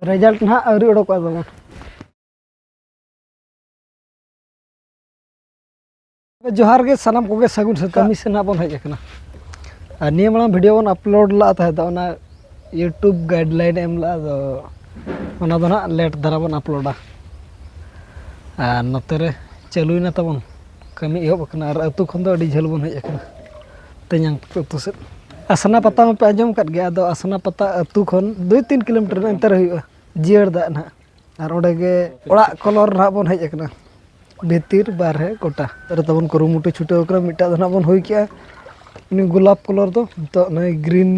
result ᱱᱟᱦᱟᱜ ᱟᱹᱣᱨᱤ ᱚᱰᱚᱠᱚᱜᱼᱟ ᱵᱟᱵᱟ ᱡᱚᱦᱟᱨ ᱜᱮ ᱥᱟᱱᱟᱢ ᱠᱚᱜᱮ ᱥᱟᱹᱜᱩᱱ ᱥᱮᱛᱟᱜ ᱠᱟᱹᱢᱤ ᱥᱮ ᱱᱟᱦᱟᱜ ᱵᱚᱱ ᱦᱮᱡ ᱟᱠᱟᱱᱟ ᱟᱨ ᱱᱤᱭᱟᱹ ᱢᱟᱲᱟᱝ ᱵᱷᱤᱰᱤᱭᱳ ᱵᱚᱱ ᱟᱯᱞᱳᱰ ᱞᱟᱜᱼᱟ ᱛᱟᱦᱮᱸ ᱫᱚ ᱚᱱᱟ ᱤᱭᱩᱴᱩᱵᱽ ᱜᱟᱭᱤᱰᱞᱟᱭᱤᱱ ᱮᱢ ᱞᱟᱜᱼᱟ ᱟᱫᱚ ᱚᱱᱟ ᱫᱚ ᱱᱟᱦᱟᱜ ᱞᱮᱴ ᱫᱷᱟᱨᱟ ᱵᱚᱱ ᱟᱯᱞᱳᱰᱟ ᱟᱨ ᱱᱚᱛᱮ ᱨᱮ ᱪᱟᱹᱞᱩᱭᱮᱱᱟ ᱛᱟᱵᱚᱱ ᱠᱟᱹᱢᱤ ᱮᱦᱚᱵ ᱟᱠᱟᱱᱟ ᱟᱨ ᱟᱹᱛᱩ ᱠᱷᱚᱱ ᱫᱚ ᱟᱹᱰᱤ ᱡᱷᱟᱹᱞ ᱵᱚᱱ ᱦᱮᱡ ᱟᱠᱟᱱᱟ ᱛᱮᱧᱟᱝ ᱛᱟᱠᱚ ᱟᱹᱛᱩ ᱥᱮᱫ ᱟᱥᱱᱟ ᱯᱟᱛᱟ ᱢᱟᱯᱮ ᱟᱸᱡᱚᱢ ᱟᱠᱟᱫ ᱜᱮᱭᱟ ᱟᱫᱚ ᱟᱥᱱᱟ ᱯᱟᱛᱟ ᱟᱹᱛᱩ ᱠᱷᱚᱱ ᱫᱩᱭ ᱛᱤᱱ ᱠᱤᱞᱳᱢᱤᱴᱟᱨ ᱚᱱᱛᱮ ᱨᱮ ᱦᱩᱭᱩᱜᱼᱟ ᱡᱤᱭᱟᱹᱲ ᱫᱟᱜ ᱱᱟᱦᱟᱜ ᱟᱨ ᱚᱸᱰᱮ ᱜᱮ ᱚᱲᱟᱜ ᱠᱚᱞᱚᱨ ᱱᱟᱦᱟᱜ ᱵᱚᱱ ᱦᱮᱡ ᱟᱠᱟᱱᱟ ᱵᱷᱤᱛᱤᱨ ᱵᱟᱦᱨᱮ ᱜᱚᱴᱟ ᱨᱮ ᱛᱟᱵᱚᱱ ᱠᱩᱨᱩᱢᱩᱴᱩ ᱪᱷᱩᱴᱟᱹᱣ ᱟᱠᱟᱱᱟ ᱢᱤᱫᱴᱟᱜ ᱫᱚ ᱱᱟᱦᱟᱜ ᱵᱚᱱ ᱦᱩᱭ ᱠᱮᱜᱼᱟ ᱩᱱᱤ ᱜᱳᱞᱟᱯ ᱠᱚᱞᱚᱨ ᱫᱚ ᱱᱤᱛᱚᱜ ᱱᱚᱜᱼᱚᱭ ᱜᱨᱤᱱ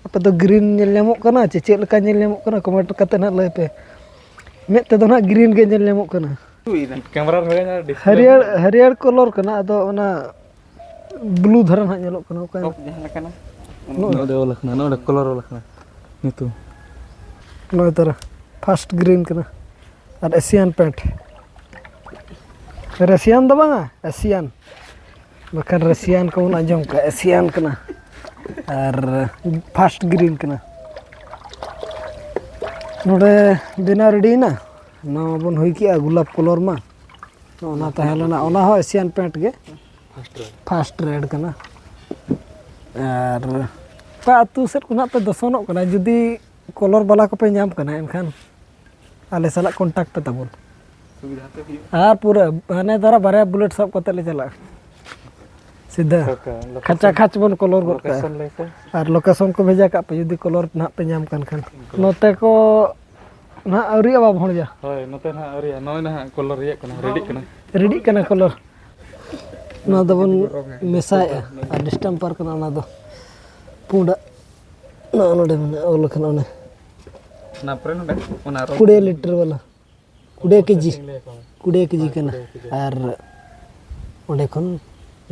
ᱟᱯᱮ ᱫᱚ ᱜᱨᱤᱱ ᱧᱮᱞ ᱧᱟᱢᱚᱜ ᱠᱟᱱᱟ ᱪᱮ ᱪᱮᱫ ᱞᱮᱠᱟ ᱧᱮᱞ ᱧᱟᱢᱚᱜ ᱠᱟᱱᱟ ᱠᱚᱢᱮᱱᱴ ᱠᱟᱛᱮᱫ ᱱᱟᱦᱟᱜ ᱞᱟᱹᱭ ᱯᱮ ᱢᱮᱫ ᱛᱮᱫᱚ ᱱᱟᱦᱟᱜ ᱜᱨᱤᱱ ᱜᱮ ᱧᱮᱞ ᱧᱟᱢᱚᱜ ᱠᱟᱱᱟ ᱦᱟᱹᱨᱭᱟᱹᱲ ᱦᱟᱹᱨᱭᱟᱹᱲ ᱠᱚᱞᱚᱨ ᱠᱟᱱᱟ ᱟᱫᱚ ᱚᱱᱟ ᱵᱞᱩ ᱫᱷᱟᱨᱟ ᱱᱟᱦᱟᱜ ᱧᱮᱞᱚᱜ ᱠᱟᱱᱟ ᱚᱠᱟ ᱴᱚᱯ ᱡᱟᱦᱟᱸ ᱞᱮᱠᱟᱱᱟ ᱱᱚᱰᱮ ᱚᱞ ᱟᱠᱟᱱᱟ ᱱᱚᱰᱮ ᱠᱚᱞᱚᱨ ᱚᱞ ᱟᱠᱟᱱᱟ ᱧᱩᱛᱩᱢ ᱱᱚᱭ ᱛᱟᱨᱟ ᱯᱷᱟᱥᱴ ᱜᱨᱤᱱ ᱠᱟᱱᱟ ᱟᱨ ᱮᱥᱤᱭᱟᱱ ᱯᱮᱱᱴ ᱨᱮᱥᱤᱭᱟᱱ ᱫᱚ ᱵᱟᱝᱟ ᱮᱥᱤᱭᱟᱱ ᱵᱟᱠᱷᱟᱱ ᱨᱮᱥᱤᱭᱟᱱ ᱠᱚᱵᱚᱱ ᱟᱸᱡᱚᱢ ᱠᱟᱜᱼᱟ ᱮᱥᱤᱭᱟᱱ ᱠᱟᱱᱟ ᱟᱨ ᱯᱷᱟᱥᱴ ᱜᱨᱤᱱ ᱠᱟᱱᱟ ᱱᱚᱰᱮ ᱵᱮᱱᱟᱣ ᱨᱮᱰᱤᱭᱮᱱᱟ ᱱᱟᱣᱟ ᱵᱚᱱ ᱦᱩᱭ ᱠᱮᱜᱼᱟ ᱜᱳᱞᱟᱯ ᱠᱚᱞᱚᱨ ᱢᱟ ᱛᱚ ᱚᱱᱟ ᱛᱟᱦᱮᱸ ᱞᱮᱱᱟ ᱚᱱᱟ ᱦᱚᱸ ᱮᱥᱤᱭᱟᱱ ᱯᱮᱱᱴ ᱜᱮ ᱯᱷᱟᱥᱴ ᱨᱮᱰ ᱠᱟᱱᱟ ᱟᱨ ᱚᱠᱟ ᱟᱹᱛᱩ ᱥᱮᱫ ᱠᱷᱚᱱᱟᱜ ᱯᱮ ᱫᱚᱥᱚᱱᱚᱜ ᱠᱟᱱᱟ ᱡᱩᱫᱤ ᱠᱚᱞᱚᱨ ᱵᱟᱞᱟ ᱠᱚᱯᱮ ᱧᱟᱢ ᱠᱟᱱᱟ ᱮᱱᱠᱷᱟᱱ ᱟᱞᱮ ᱥᱟᱞᱟᱜ ᱠᱚᱱᱴᱟᱠᱴ ᱯᱮ ᱛᱟᱵᱚᱱ ᱟᱨ ᱯᱩᱨᱟᱹ ᱦᱟᱱᱮ ᱫᱷᱟᱨᱟ ᱵᱟᱨᱭᱟ ᱵᱩᱞᱮᱴ ᱥᱟᱵ ᱠᱟᱛᱮ ᱞᱮ ᱪᱟᱞᱟᱜᱼᱟ ᱥᱤᱫᱷᱟᱹ ᱠᱷᱟᱪᱟ ᱠᱷᱟᱪ ᱵᱚᱱ ᱠᱚᱞᱚᱨ ᱜᱚᱫ ᱠᱟᱜᱼᱟ ᱟᱨ ᱞᱳᱠᱮᱥᱚᱱ ᱠᱚ ᱵᱷᱮᱡᱟ ᱠᱟᱜ ᱯᱮ ᱡᱩᱫᱤ ᱠᱚᱞᱚᱨ ᱱᱟᱦᱟᱜ ᱯᱮ ᱧᱟᱢ ᱠᱟᱱ ᱠᱷᱟᱱ ᱱᱚᱛᱮ ᱠᱚ ᱱᱟᱦᱟᱜ ᱟᱹᱣᱨᱤ ᱟᱵᱟ ᱵᱷᱚᱲᱡᱟ ᱦᱳᱭ ᱱᱚᱛᱮ ᱱᱟᱦᱟᱜ ᱟᱹᱣᱨᱤ ᱱᱚᱜᱼᱚᱭ ᱱᱟᱦᱟᱜ ᱠᱚᱞᱚᱨ ᱨᱮᱭᱟᱜ ᱠᱟᱱᱟ ᱨᱮᱰᱤᱜ ᱠᱟᱱᱟ ᱨᱮᱰᱤᱜ ᱠᱟᱱᱟ ᱠᱚᱞᱚᱨ ᱱᱚᱣᱟ ᱫᱚᱵᱚᱱ ᱢᱮᱥᱟᱭᱮᱜᱼᱟ ᱟᱨ ᱰᱤᱥᱴᱟᱢᱯᱟᱨ ᱠᱟᱱᱟ ᱚᱱᱟ ᱫᱚ ᱯᱩᱸᱰᱟᱜ ᱱᱚᱜᱼᱚ ᱱᱚᱰᱮ ᱢᱮᱱᱟᱜᱼᱟ ᱚᱞ ᱠᱟᱱᱟ ᱚᱱᱮ ᱚᱱᱟ ᱯᱚᱨᱮ ᱱᱚᱰᱮ ᱚᱱᱟ ᱠᱩᱲᱤ ᱞᱤᱴᱟᱨ ᱵᱟᱞᱟ ᱠᱩᱲᱤ ᱠᱮᱡᱤ ᱠᱩᱲᱤ ᱠᱮᱡᱤ ᱠᱟᱱᱟ ᱟᱨ ᱚᱸᱰᱮ ᱠᱷᱚᱱ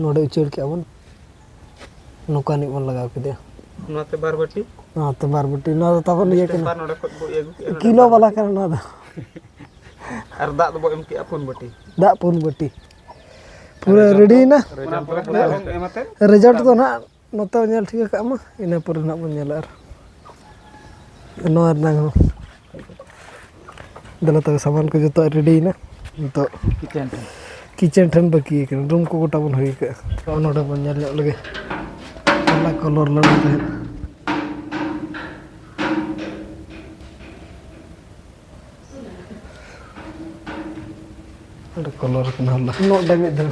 ᱱᱚᱰᱮ ᱩᱪᱟᱹᱲ ᱠᱮᱜᱼᱟ ᱵᱚᱱ ᱱᱚᱝᱠᱟ ᱱᱤᱡ ᱵᱚᱱ ᱞᱟᱜᱟᱣ ᱠᱮᱫᱮᱭᱟ ᱱᱚᱛᱮ ᱵᱟᱨ ᱵᱟᱹᱴᱤ ᱱᱚᱛᱮ ᱵᱟᱨ ᱵᱟᱹᱴᱤ ᱱᱚᱣᱟ ᱫᱚ ᱛᱟᱵᱚᱱ ᱤᱭᱟᱹ ᱠᱟᱱᱟ ᱱᱚᱰᱮ ᱠᱷᱚᱱ ᱵᱚ ᱤᱭᱟᱹ ᱠᱤᱞᱳ ᱵᱟᱞᱟ ᱠᱟᱱᱟ ᱱᱚᱣᱟ ᱫᱚ ᱟᱨ ᱫᱟᱜ ᱫᱚᱵᱚ ᱮᱢ ᱠᱮᱜᱼᱟ ᱯᱩᱱ ᱵᱟᱹᱴᱤ ᱫᱟᱜ ᱯᱩᱱ ᱵᱟᱹᱴᱤ ᱯᱩᱨᱟᱹ ᱨᱮᱰᱤᱭᱮᱱᱟ ᱨᱮᱡᱟᱞᱴ ᱫᱚ ᱱᱟᱦᱟᱜ ᱱᱚᱛᱮ ᱦᱚᱸ ᱧᱮᱞ ᱴᱷᱤᱠᱟᱹ ᱠᱟᱜ ᱢᱟ ᱤᱱᱟᱹ ᱯᱚᱨᱮ ᱱᱟᱦᱟᱜ ᱵᱚᱱ ᱧᱮᱞᱟ ᱟᱨ ᱱᱚᱣᱟ ᱨᱮᱱᱟᱝ ᱦᱚᱸ ᱫᱮᱞᱟ ᱛᱚᱵᱮ ᱥᱟᱢᱟᱱ ᱠᱚ ᱡᱚᱛᱚᱣᱟᱜ ᱨᱮᱰᱤᱭᱮᱱᱟ ᱱᱤᱛᱚᱜ ᱠᱤᱪᱮᱱ ᱴᱷᱮᱱ ᱠᱤᱪᱮᱱ ᱴᱷᱮᱱ ᱵᱟᱹᱠᱤ ᱠᱟᱱᱟ ᱨᱩᱢ ᱠᱚ ᱜᱚᱴᱟ ᱵᱚᱱ ᱦᱩᱭ ᱠᱟᱜᱼᱟ ᱛᱚ ᱱᱚᱰᱮ ᱵᱚᱱ ᱧᱮᱞ ᱧᱚᱜ ᱞᱮᱜᱮ ᱚᱱᱟ ᱠᱚᱞᱚᱨ ᱞᱟᱹᱰᱩ ᱛᱟᱦᱮᱸᱫ ᱚᱸᱰᱮ ᱠᱚᱞᱚᱨ ᱠᱟᱱᱟ ᱦᱚᱞᱟ ᱱᱚᱰᱮ ᱢᱤᱫ ᱫᱷᱟᱣ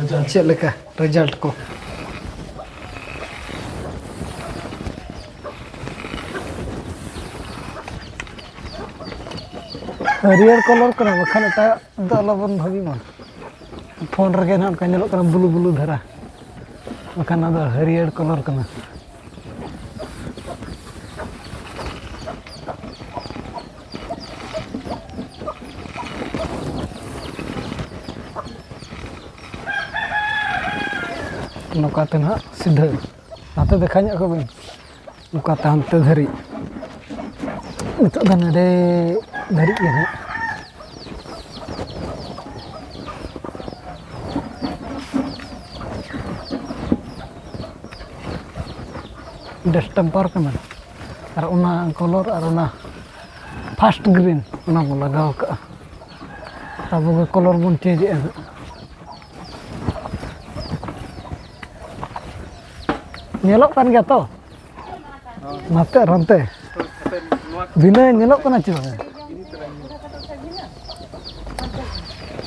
ᱟᱡᱟᱜ ᱪᱮᱫ ᱞᱮᱠᱟ ᱨᱮᱡᱟᱞᱴ ᱠᱚ ᱦᱟᱹᱨᱭᱟᱹᱲ ᱠᱚᱞᱚᱨ ᱠᱟᱱᱟ ᱵᱟᱠᱷᱟᱱ ᱮᱴᱟᱜ ᱫᱚ ᱟᱞᱚᱵᱚᱱ ᱵᱷᱟᱹᱜᱤ ᱢᱟ ᱯᱷᱳᱱ ᱨᱮᱜᱮ ᱱᱟᱜ ᱚᱱᱠᱟ ᱧᱮᱞᱚᱜ ᱠᱟᱱᱟ ᱵᱞᱩ ᱵᱞᱩ ᱫᱷᱟᱨᱟ ᱵᱟᱠᱷᱟᱱ ᱚᱱᱟ ᱫᱚ ᱦᱟᱹᱨᱭᱟᱹᱲ ᱠᱚᱞᱚᱨ ᱠᱟᱱᱟ ᱱᱚᱝᱠᱟ ᱛᱮ ᱱᱟᱦᱟᱜ ᱥᱤᱫᱷᱟᱹ ᱱᱟᱛᱮ ᱫᱮᱠᱷᱟᱣ ᱧᱚᱜ ᱠᱚᱵᱤᱱ ᱱᱚᱝᱠᱟ ᱛᱮ ᱦᱟᱱᱛᱮ ᱫᱷᱟᱹᱨᱤᱡ ᱱᱤᱛᱚᱜ ᱫᱚ ᱱᱚᱰᱮ ᱫᱷᱟᱹᱨᱤᱡ ᱜᱮ ᱱᱟᱦᱟᱜ ᱰᱮᱥᱴᱮᱢᱯᱟᱨ ᱠᱟᱱᱟ ᱟᱨ ᱚᱱᱟ ᱠᱚᱞᱚᱨ ᱟᱨ ᱚᱱᱟ ᱯᱷᱟᱥᱴ ᱜᱨᱤᱱ ᱚᱱᱟ ᱵᱚᱱ ᱞᱟᱜᱟᱣ ᱠᱟᱜᱼᱟ ᱟᱵᱚ ᱜᱮ ᱠᱚᱞᱚᱨ ᱵᱚᱱ ᱪᱮᱧᱡᱮᱜᱼᱟ ᱦᱟᱸᱜ ᱧᱮᱞᱚᱜ ᱠᱟᱱ ᱜᱮᱭᱟ ᱛᱚ ᱱᱟᱛᱮ ᱟᱨ ᱦᱟᱱᱛᱮ ᱵᱷᱤᱱᱟᱹ ᱧᱮᱞᱚᱜ ᱠᱟᱱᱟ ᱪᱮ ᱵᱟᱝ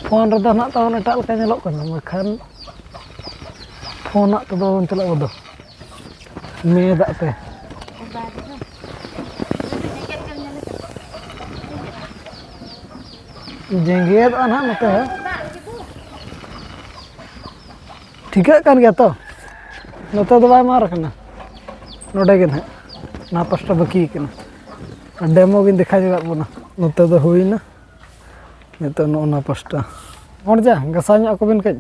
ᱯᱷᱳᱱ ᱨᱮᱫᱚ ᱱᱟᱜ ᱛᱟᱵᱚᱱ ᱮᱴᱟᱜ ᱞᱮᱠᱟ ᱧᱮᱞᱚᱜ ᱠᱟᱱᱟ ᱵᱟᱠᱷᱟᱱ ᱯᱷᱳᱱ ᱟᱜ ᱛᱮᱫᱚ ᱵᱟᱵᱚᱱ ᱪᱟᱞᱟᱜ ᱵᱚᱫᱚ ᱢᱮ ᱫᱟᱜ ᱛᱮ ᱡᱮᱸᱜᱮᱫᱚᱜᱼᱟ ᱱᱟᱦᱟᱜ ᱱᱚᱛᱮ ᱴᱷᱤᱠᱟᱹᱜ ᱠᱟᱱ ᱜᱮᱭᱟ ᱛᱚ ᱱᱚᱛᱮ ᱫᱚ ᱵᱟᱭ ᱢᱟᱨ ᱠᱟᱱᱟ ᱱᱚᱰᱮ ᱜᱮ ᱱᱟᱦᱟᱜ ᱱᱚᱣᱟ ᱯᱟᱥᱴᱟ ᱵᱟᱹᱠᱤ ᱠᱟᱱᱟ ᱰᱮᱢᱳ ᱜᱤᱧ ᱫᱮᱠᱷᱟᱣ ᱡᱚᱜᱟᱜ ᱵᱚᱱᱟ ᱱᱚᱛᱮ ᱫᱚ ᱦᱩᱭᱱᱟ ᱱᱤᱛᱚᱜ ᱱᱚᱜᱼᱚ ᱱᱚᱣᱟ ᱯᱟᱥᱴᱟ ᱦᱚᱲ ᱡᱟ ᱜᱟᱥᱟᱣ ᱧᱚᱜ ᱟᱠᱚ ᱵᱮᱱ ᱠᱟᱹᱡ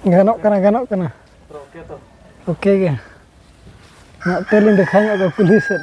ᱜᱟᱱᱚᱜ ᱠᱟᱱᱟ ᱜᱟᱱᱚᱜ ᱠᱟᱱᱟ ᱳᱠᱮ ᱜᱮ ᱱᱚᱛᱮ ᱞᱤᱧ ᱫᱮᱠᱷᱟᱣ ᱧᱚᱜ ᱠᱚᱣᱟ ᱠᱩᱞᱦᱤ ᱥᱮᱫ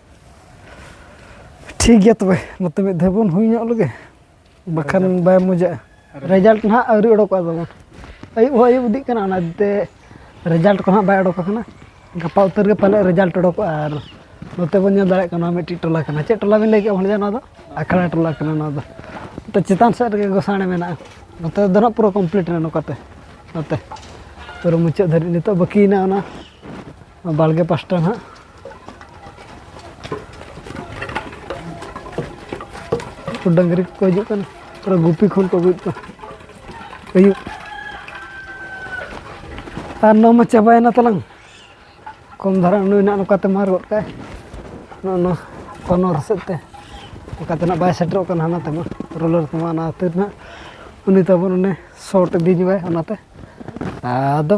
ᱴᱷᱤᱠ ᱜᱮᱭᱟ ᱛᱚᱵᱮ ᱱᱚᱛᱮ ᱢᱤᱫ ᱫᱷᱟᱣ ᱵᱚᱱ ᱦᱩᱭ ᱧᱚᱜ ᱞᱮᱜᱮ ᱵᱟᱠᱷᱟᱱ ᱵᱟᱭ ᱢᱚᱡᱟᱜᱼᱟ ᱨᱮᱡᱟᱞᱴ ᱱᱟᱦᱟᱜ ᱟᱹᱣᱨᱤ ᱚᱰᱚᱠᱚᱜᱼᱟ ᱛᱟᱵᱚᱱ ᱟᱹᱭᱩᱵ ᱦᱚᱸ ᱟᱹᱭᱩᱵ ᱤᱫᱤᱜ ᱠᱟᱱᱟ ᱚᱱᱟ ᱤᱫᱤᱛᱮ ᱨᱮᱡᱟᱞᱴ ᱠᱚ ᱱᱟᱦᱟᱜ ᱵᱟᱭ ᱚᱰᱚᱠ ᱟᱠᱟᱱᱟ ᱜᱟᱯᱟ ᱩᱛᱟᱹᱨ ᱜᱮ ᱯᱟᱞᱮ ᱨᱮᱡᱟᱞᱴ ᱚᱰᱚᱠᱚᱜᱼᱟ ᱟᱨ ᱱᱚᱛᱮ ᱵᱚᱱ ᱧᱮᱞ ᱫᱟᱲᱮᱭᱟᱜ ᱠᱟᱱᱟ ᱢᱤᱫᱴᱤᱡ ᱴᱚᱞᱟ ᱠᱟᱱᱟ ᱪᱮᱫ ᱴᱚᱞᱟ ᱵᱤᱱ ᱞᱟᱹᱭ ᱠᱮᱫᱼᱟ ᱵᱷᱟᱹᱭᱟ ᱱᱚᱣᱟ ᱫᱚ ᱟᱠᱷᱲᱟ ᱴᱚᱞᱟ ᱠᱟᱱᱟ ᱱᱚᱣᱟ ᱫᱚ ᱱᱚᱛᱮ ᱪᱮᱛᱟᱱ ᱥᱮᱫ ᱨᱮᱜᱮ ᱜᱚᱥᱟᱬᱮ ᱢᱮᱱᱟᱜᱼᱟ ᱱᱚᱛᱮ ᱫᱚ ᱱᱟᱦᱟᱜ ᱯᱩᱨᱟᱹ ᱠᱚᱢᱯᱞᱤᱴ ᱮᱱᱟ ᱱᱚᱝᱠᱟᱛᱮ ᱱᱚᱛᱮ ᱯᱩᱨᱟᱹ ᱢᱩᱪᱟᱹᱫ ᱫᱷᱟᱹᱨᱤᱡ ᱱᱤᱛᱚᱜ ᱵᱟᱹᱠᱤᱭᱮᱱᱟ ᱚᱱᱟ ᱵᱟᱲᱜᱮ ᱯᱟᱥᱴᱟ ᱱᱟᱦᱟᱜ ᱠᱚ ᱰᱟᱹᱝᱨᱤ ᱠᱚᱠᱚ ᱦᱤᱡᱩᱜ ᱠᱟᱱᱟ ᱯᱩᱨᱟᱹ ᱜᱩᱯᱤ ᱠᱷᱚᱱ ᱠᱚ ᱟᱹᱜᱩᱭᱮᱫ ᱠᱚᱣᱟ ᱟᱹᱭᱩᱵ ᱟᱨ ᱱᱚᱣᱟ ᱢᱟ ᱪᱟᱵᱟᱭᱮᱱᱟ ᱛᱟᱞᱟᱝ ᱠᱚᱢ ᱫᱷᱟᱨᱟ ᱩᱱᱩᱭ ᱱᱟᱜ ᱱᱚᱝᱠᱟᱛᱮ ᱢᱟᱨ ᱜᱚᱫ ᱠᱟᱜᱼᱟᱭ ᱱᱚᱜᱼᱚ ᱱᱚᱣᱟ ᱠᱚᱱᱚᱨ ᱥᱮᱫ ᱛᱮ ᱚᱱᱠᱟᱛᱮ ᱱᱟᱜ ᱵᱟᱭ ᱥᱮᱴᱮᱨᱚᱜ ᱠᱟᱱᱟ ᱦᱟᱱᱟ ᱛᱮᱢᱟ ᱨᱳᱞᱟᱨ ᱛᱮᱢᱟ ᱚᱱᱟ ᱠᱷᱟᱹᱛᱤᱨ ᱱᱟᱜ ᱩᱱᱤ ᱛᱟᱵᱚᱱ ᱚᱱᱮ ᱥᱚᱨᱴ ᱤᱫᱤ ᱧᱚᱜᱟᱭ ᱚᱱᱟᱛᱮ ᱟᱫᱚ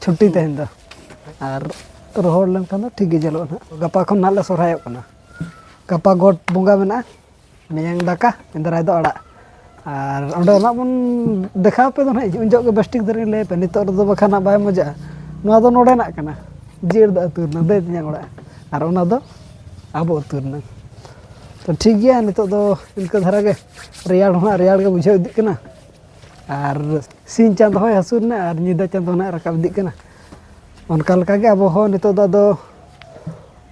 ᱪᱷᱩᱴᱤ ᱛᱮᱦᱮᱧ ᱫᱚ ᱟᱨ ᱨᱚᱦᱚᱲ ᱞᱮᱱᱠᱷᱟᱱ ᱫᱚ ᱴᱷᱤᱠ ᱜᱮ ᱧᱮᱞᱚᱜᱼᱟ ᱱᱟᱜ ᱜᱟᱯᱟ ᱠᱷᱚᱱ ᱱᱟᱜ ᱞᱮ ᱥᱚᱨᱦᱟᱭᱚᱜ ᱠᱟᱱᱟ ᱜᱟᱯᱟ ᱜᱚᱴ ᱵᱚᱸᱜᱟ ᱢᱮᱱᱟᱜᱼᱟ ᱢᱮᱭᱟᱝ ᱫᱟᱠᱟ ᱮᱸᱫᱽᱨᱟᱭ ᱫᱚ ᱟᱲᱟᱜ ᱟᱨ ᱚᱸᱰᱮ ᱱᱟᱜ ᱵᱚᱱ ᱫᱮᱠᱷᱟᱣ ᱯᱮ ᱫᱚ ᱱᱟᱜ ᱩᱱ ᱡᱚᱦᱚᱜ ᱜᱮ ᱵᱮᱥ ᱴᱷᱤᱠ ᱫᱷᱟᱨᱟᱧ ᱞᱟᱹᱭ ᱟᱯᱮ ᱱᱤᱛᱚᱜ ᱨᱮᱫᱚ ᱵᱟᱠᱷᱟᱱ ᱱᱟᱜ ᱵᱟᱭ ᱢᱚᱡᱟᱜᱼᱟ ᱱᱚᱣᱟ ᱫᱚ ᱱᱚᱰᱮᱱᱟᱜ ᱠᱟᱱᱟ ᱡᱤᱭᱟᱹᱲ ᱫᱚ ᱟᱹᱛᱩ ᱨᱮᱱᱟᱜ ᱫᱟᱹᱭ ᱛᱮᱧᱟᱝ ᱚᱲᱟᱜ ᱟᱨ ᱚᱱᱟ ᱫᱚ ᱟᱵᱚ ᱟᱹᱛᱩ ᱨᱮᱱᱟᱜ ᱛᱚ ᱴᱷᱤᱠ ᱜᱮᱭᱟ ᱱᱤᱛᱚᱜ ᱫᱚ ᱤᱱᱠᱟᱹ ᱫᱷᱟᱨᱟ ᱜᱮ ᱨᱮᱭᱟᱲ ᱦᱚᱸ ᱱᱟᱜ ᱨᱮᱭᱟᱲ ᱜᱮ ᱵᱩᱡᱷᱟᱹᱣ ᱤᱫᱤᱜ ᱠᱟᱱᱟ ᱟᱨ ᱥᱤᱧ ᱪᱟᱸᱫᱚ ᱦᱚᱸᱭ ᱦᱟᱹᱥᱩᱨ ᱮᱱᱟ ᱟᱨ ᱧᱤᱫᱟᱹ ᱪᱟᱸᱫᱚ ᱱᱟᱦᱟᱜ ᱨᱟᱠᱟᱵ ᱤᱫᱤᱜ ᱠᱟᱱᱟ ᱚᱱᱠᱟ ᱞᱮᱠᱟᱜᱮ ᱟᱵᱚ ᱦᱚᱸ ᱱᱤᱛᱚᱜ ᱫᱚ ᱟᱫᱚ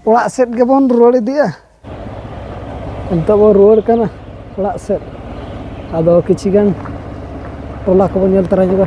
ᱚᱲᱟᱜ ᱥᱮᱫ ᱜᱮᱵᱚᱱ ᱨᱩᱣᱟᱹᱲ ᱤᱫᱤᱜᱼᱟ ᱱᱤᱛᱚᱜ ᱵᱚᱱ ᱨᱩᱣᱟᱹᱲ ᱠᱟᱱᱟ ᱚᱲᱟᱜ ᱥᱮᱫ ᱟᱫᱚ ᱠᱤᱪᱷᱩ ᱜᱟᱱ ᱴᱚᱞᱟ ᱠᱚᱵᱚᱱ ᱧᱮᱞ ᱛᱟᱨᱟ ᱧᱚᱜᱟ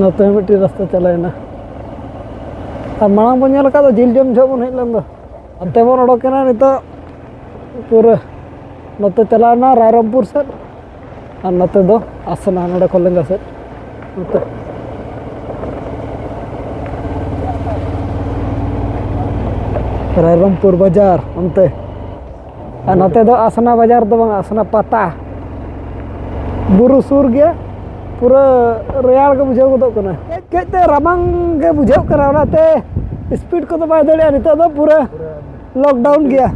ᱱᱚᱛᱮ ᱦᱚᱸ ᱢᱤᱫᱴᱤᱡ ᱨᱟᱥᱛᱟ ᱪᱟᱞᱟᱣᱮᱱᱟ ᱟᱨ ᱢᱟᱲᱟᱝ ᱵᱚᱱ ᱧᱮᱞ ᱟᱠᱟᱫ ᱫᱚ ᱡᱤᱞ ᱡᱚᱢ ᱡᱚᱦᱚᱜ ᱵᱚᱱ ᱦᱮᱡ ᱞᱮᱱ ᱫᱚ ᱚᱱᱛᱮ ᱵᱚᱱ ᱚᱰᱚᱠᱮᱱᱟ ᱱᱤᱛᱚᱜ ᱯᱩᱨᱟᱹ ᱱᱚᱛᱮ ᱪᱟᱞᱟᱣᱮᱱᱟ ᱨᱟᱭᱨᱚᱢᱯᱩᱨ ᱥᱮᱫ ᱟᱨ ᱱᱚᱛᱮ ᱫᱚ ᱟᱥᱱᱟ ᱱᱚᱰᱮ ᱠᱷᱚᱱ ᱞᱮᱸᱜᱟ ᱥᱮᱫ ᱱᱚᱛᱮ ᱨᱟᱭᱨᱚᱢᱯᱩᱨ ᱵᱟᱡᱟᱨ ᱚᱱᱛᱮ ᱟᱨ ᱱᱚᱛᱮ ᱫᱚ ᱟᱥᱱᱟ ᱵᱟᱡᱟᱨ ᱫᱚ ᱵᱟᱝ ᱟᱥᱱᱟ ᱯᱟᱛᱟ ᱵᱩᱨᱩ ᱥᱩᱨ ᱜᱮᱭᱟ ᱯᱩᱨᱟᱹ ᱨᱮᱭᱟᱲ ᱜᱮ ᱵᱩᱡᱷᱟᱹᱣ ᱜᱚᱫᱚᱜ ᱠᱟᱱᱟ ᱠᱟᱹᱡ ᱠᱟᱹᱡ ᱛᱮ ᱨᱟᱵᱟᱝ ᱜᱮ ᱵᱩᱡᱷᱟᱹᱜ ᱠᱟᱱᱟ ᱚᱱᱟᱛᱮ ᱥᱯᱤᱰ ᱠᱚᱫᱚ ᱵᱟᱭ ᱫᱟᱲᱮᱭᱟᱜᱼᱟ ᱱᱤᱛᱚᱜ ᱫᱚ ᱯᱩᱨᱟᱹ ᱞᱚᱠᱰᱟᱣᱩᱱ ᱜᱮᱭᱟ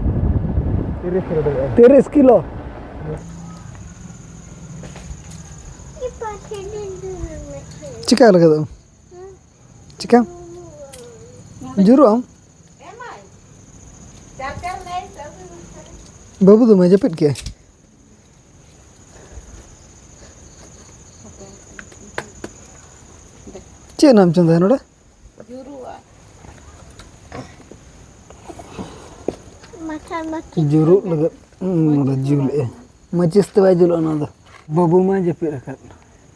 ᱛᱤᱨᱤᱥ ᱠᱤᱞᱳ ᱪᱤᱠᱟᱹ ᱞᱟᱹᱜᱤᱫᱚᱜ ᱪᱤᱠᱟ ᱡᱩᱨᱩᱜ ᱟᱢ ᱵᱟᱹᱵᱩ ᱫᱚᱢᱮ ᱡᱟᱹᱯᱤᱫ ᱠᱮᱜᱼᱟᱭ ᱪᱮᱫ ᱨᱮᱱᱟᱜ ᱮᱢ ᱪᱚᱸᱫᱟᱭᱟ ᱱᱚᱰᱮ ᱡᱩᱨᱩᱜ ᱞᱟᱹᱜᱤᱫ ᱱᱚᱰᱮ ᱡᱩᱞᱮᱜᱼᱟᱭ ᱢᱟᱹᱪᱤᱥ ᱛᱮ ᱵᱟᱭ ᱡᱩᱞᱩᱜᱼᱟ ᱱᱚᱣᱟ ᱫᱚ ᱵᱟᱹᱵᱩ ᱢᱟᱭ ᱡᱟᱹᱯᱤᱫ ᱟᱠᱟᱫ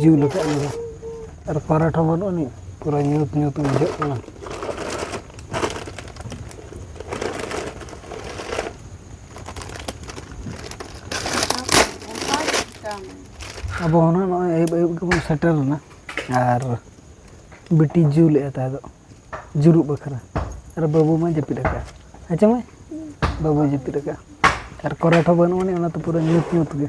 ᱡᱩᱞ ᱟᱠᱟᱫ ᱞᱮᱭᱟ ᱟᱨ ᱠᱟᱨᱮᱱᱴ ᱦᱚᱸ ᱵᱟᱹᱱᱩᱜ ᱟᱹᱱᱤᱡ ᱯᱩᱨᱟᱹ ᱧᱩᱛ ᱧᱩᱛ ᱵᱩᱡᱷᱟᱹᱜ ᱠᱟᱱᱟ ᱟᱵᱚ ᱦᱚᱸ ᱱᱚᱜᱼᱚᱭ ᱟᱹᱭᱩᱵ ᱟᱹᱭᱩᱵ ᱜᱮᱵᱚᱱ ᱥᱮᱴᱮᱨ ᱮᱱᱟ ᱟᱨ ᱵᱤᱴᱤ ᱡᱩᱞᱮᱫᱼᱟ ᱛᱟᱦᱮᱸ ᱫᱚ ᱡᱩᱨᱩᱜ ᱵᱟᱠᱷᱨᱟ ᱟᱨ ᱵᱟᱹᱵᱩ ᱢᱟ ᱡᱟᱹᱯᱤᱫ ᱟᱠᱟᱫ ᱟᱪᱪᱷᱟ ᱢᱟᱹᱭ ᱵᱟᱹᱵᱩᱭ ᱡᱟᱹᱯᱤᱫ ᱟᱠᱟᱫ ᱟᱨ ᱠᱚᱨᱮᱱᱴ ᱦᱚᱸ ᱵᱟᱹᱱᱩᱜ ᱟᱹᱱᱤᱡ ᱚᱱᱟᱛᱮ ᱯᱩᱨᱟᱹ ᱧᱩᱛ ᱧᱩᱛ ᱜᱮ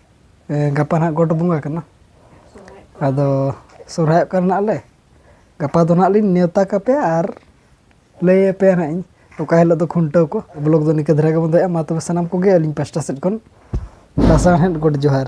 ᱜᱟᱯᱟ ᱱᱟᱦᱟᱜ ᱜᱚᱴ ᱵᱚᱸᱜᱟ ᱠᱟᱱᱟ ᱟᱫᱚ ᱥᱚᱦᱨᱟᱭᱚᱜ ᱠᱟᱱᱟ ᱱᱟᱦᱟᱜ ᱞᱮ ᱜᱟᱯᱟ ᱫᱚ ᱱᱟᱦᱟᱜ ᱞᱤᱧ ᱱᱮᱣᱛᱟ ᱠᱟᱯᱮᱭᱟ ᱟᱨ ᱞᱟᱹᱭ ᱟᱯᱮᱭᱟ ᱱᱟᱦᱟᱜ ᱤᱧ ᱚᱠᱟ ᱦᱤᱞᱳᱜ ᱫᱚ ᱠᱷᱩᱱᱴᱟᱹᱣ ᱠᱚ ᱵᱞᱚᱜᱽ ᱫᱚ ᱱᱤᱝᱠᱟᱹ ᱫᱷᱟᱨᱟ ᱜᱮᱵᱚᱱ ᱫᱚᱦᱚᱭᱟ ᱢᱟ ᱛᱚᱵᱮ ᱥᱟᱱᱟᱢ ᱠᱚᱜᱮ ᱟᱹᱞᱤᱧ ᱯᱟᱥᱴᱟ ᱥᱮᱫ ᱠᱷᱚᱱ ᱞᱟᱥᱟᱬᱦᱮᱫ ᱜᱚᱰ ᱡᱚᱦᱟᱨ